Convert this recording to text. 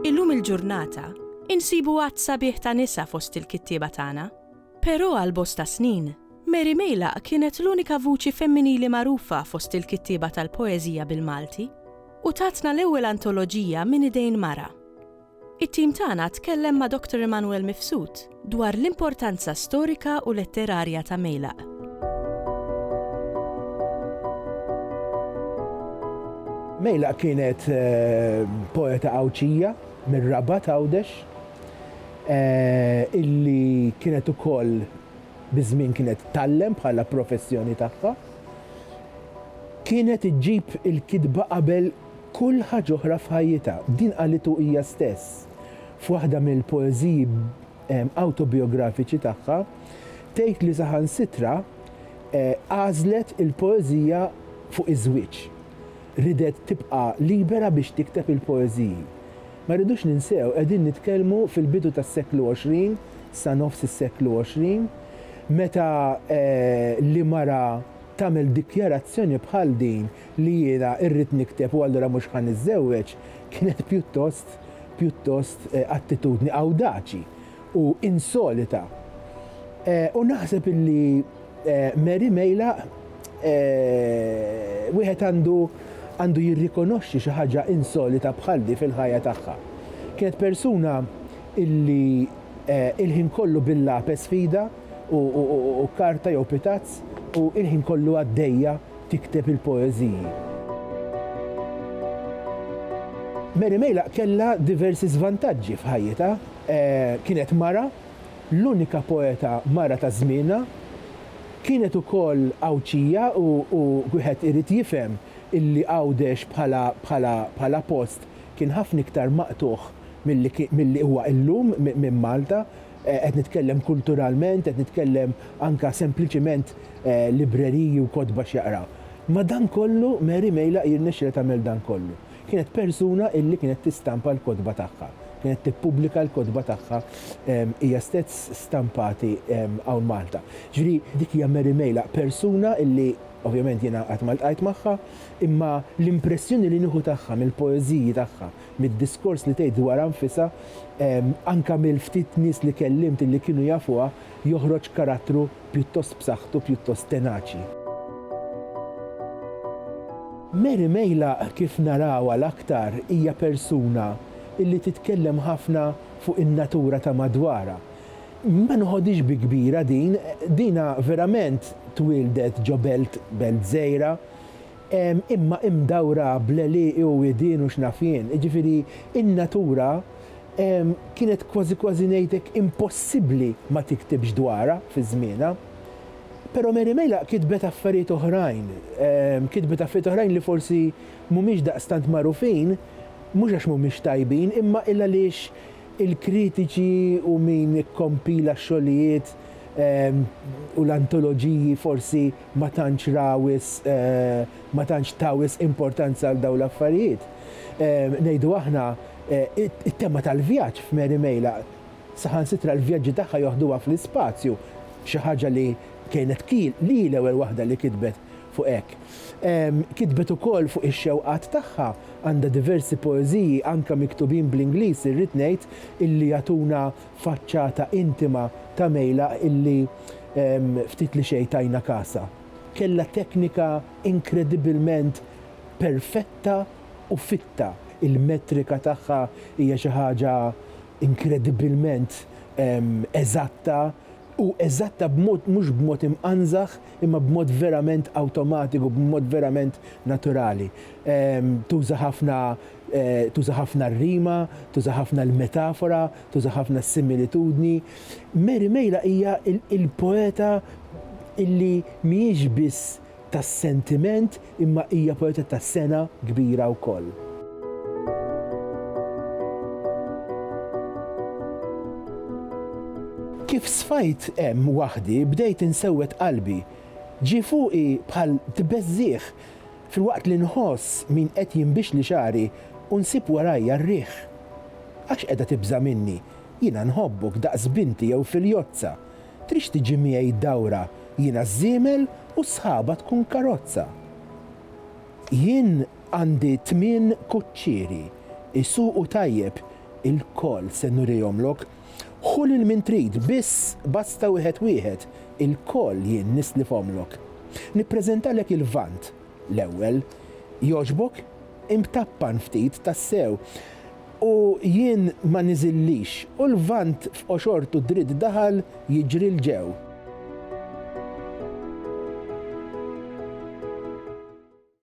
Illum il-ġurnata, insibu għadd sabiħ ta' nisa fost il-kittieba tagħna. Però għal bosta snin, Mary Meilaq kienet l-unika vuċi femminili magħrufa fost il-kittieba tal-poeżija bil-Malti. u tatna l-ewwel antoloġija minn idejn mara. It-tim tagħna tkellem ma' Doctor Emanuel Mifsud dwar l-importanza storika u letterarja ta' Mejlaq. Mejlaq kienet poeta Għawdxija mir-Rabat, Għawdex, illi kienet ukoll biż-żmien kienet tgħallem bħala professjoni tagħha, kienet iġġib il-kitba qabel kull ħaġa oħra f'ħajjitha. Din qalitu hija stess f'waħda mill-poeżiji awtobijografiċi tagħha, tgħid li saħansitra għażlet il-poeżija fuq iż-żwieġ. Ridet tibqa' libera biex tikteb il-poeżiji. Ma rridux ninsew, qegħdin nitkellmu fil-bidu tas-seklu 20, sa nofs is-seklu 20, meta li mara tagħmel dikjarazzjoni bħal din li jiena rrid nikteb u allura mhux ħa niżżewweġ, kienet pjuttost, pjuttost attitudni awdaċi u insolita. U naħseb illi. Mary Meilaq, Wieħed għandu għandu jirrikonoxxi xi ħaġa insolita bħal di fil-ħajja tagħha. Kienet persuna illi il-ħin kollu bil-lapes f'idha u karta jew pitazz u il-ħin kollu għaddejja tikteb il-poeżiji. Mary Meilaq kellha diversi żvantaġġi f'ħajjitha. Kienet mara l-unika poeta mara ta' żmienha, kienet ukoll Għawdxija u wieħed irid jifhem illi Għawdex bħala post kien ħafna iktar maqtugħ milli huwa illum minn Malta, qed nitkellem kulturalment, qed nitkellem anke sempliċement libreriji u kotba x'jaqra. Madankollu Mary Meilaq jirnexxilha tagħmel dan kollu. Kienet persuna illi kienet tistampa l-kotba tagħha, kienet tippubblika l-kotba tagħha hija stess stampati hawn Malta. Ġifieri dik hija Mary Meilaq, persuna illi ovvjament jiena qatt ma ltqajt magħha, imma l-impressjoni li nieħu tagħha mill-poeżiji tagħha, mid-diskors li tgħid dwarha nfisha, anke mill-ftit nies li kellimt illi kienu jafuha, joħroġ karattru pjuttost b'saħħtu, pjuttost tenaċi. Mary Meylaq kif narawha l-aktar hija persuna li titkellem ħafna fuq in-natura ta' madwarha. Ma noħodhiex bi kbira din, dinha verament twieldet ġo belt, belt żgħira, imma imdawra bl-għelieqi u widien u x'naf jien, jiġifieri n-natura kienet kważi kważi ngħidlek impossibbli ma tiktibx dwarha fi żmienha. Però Mary Melaq kitbet affarijiet oħrajn, kitbet affarijiet oħrajn li forsi mhumiex daqstant magħrufin, mhux għax mhumiex tajbin imma il-għaliex il-kritiċi u min ikkompila x-xogħlijiet u l-antoloġiji forsi ma tantx ra wisq, ma tantx ta wisq importanza għal dawn l-affarijiet. Ngħidu aħna, it-tema tal-vjaġġ f'Mary Mejla, saħansitra l-vjaġġi tagħha joħduha fl-ispazju, xi ħaġa li kienet li hi l-ewwel waħda li kitbet fuq hekk. Kitbet ukoll fuq ix-xewqat tagħha, għandha diversi poeżiji anke miktubin bl-Ingliż irrid ngħid illi jagħtuna faċċata intima ta' Mejla illi ftit li xejn tajna kasha. Kellha teknika inkredibilment perfetta u fitta. Il-metrika tagħha hija xi ħaġa inkredibilment eżatta u eżatta b'mod mhux b'mod imqanżaħ imma b'mod verament awtomatiku, b'mod verament naturali. Tuża ħafna tuża ħafna r-rima, tuża ħafna l-metafora, tuża ħafna s-similitudni. Mary Mejla hija l-poeta illi mhijiex biss tas-sentiment imma hija poeta ta' sengħa kbira wkoll. Kif sfajt hemm waħdi bdejt insewwed qalbi. Ġie fuqi bħal tbeżżigħ. Filwaqt li nħoss min qed jinbixli xagħri u nsib warajja r-riħ. Għax qiegħda tibża' minni, jiena nħobbok daqs binti jew filjozza, tridx tiġi miegħi dawra, jiena ż-żiemel u s-sħaba tkun karozza. Jien għandi tmien kuċċieri, isuqu tajjeb, ilkoll se nurihomlok, Ħu lil min trid, biss basta wieħed wieħed, ilkoll jien nislifhomlok. Nippreżentalek il-Lvant, l-ewwel. Jogħġbok? Imtappan ftit, tassew. U jien ma niżillix, u l-Lvant f'qoxortu dritt daħal jiġri 'l ġew.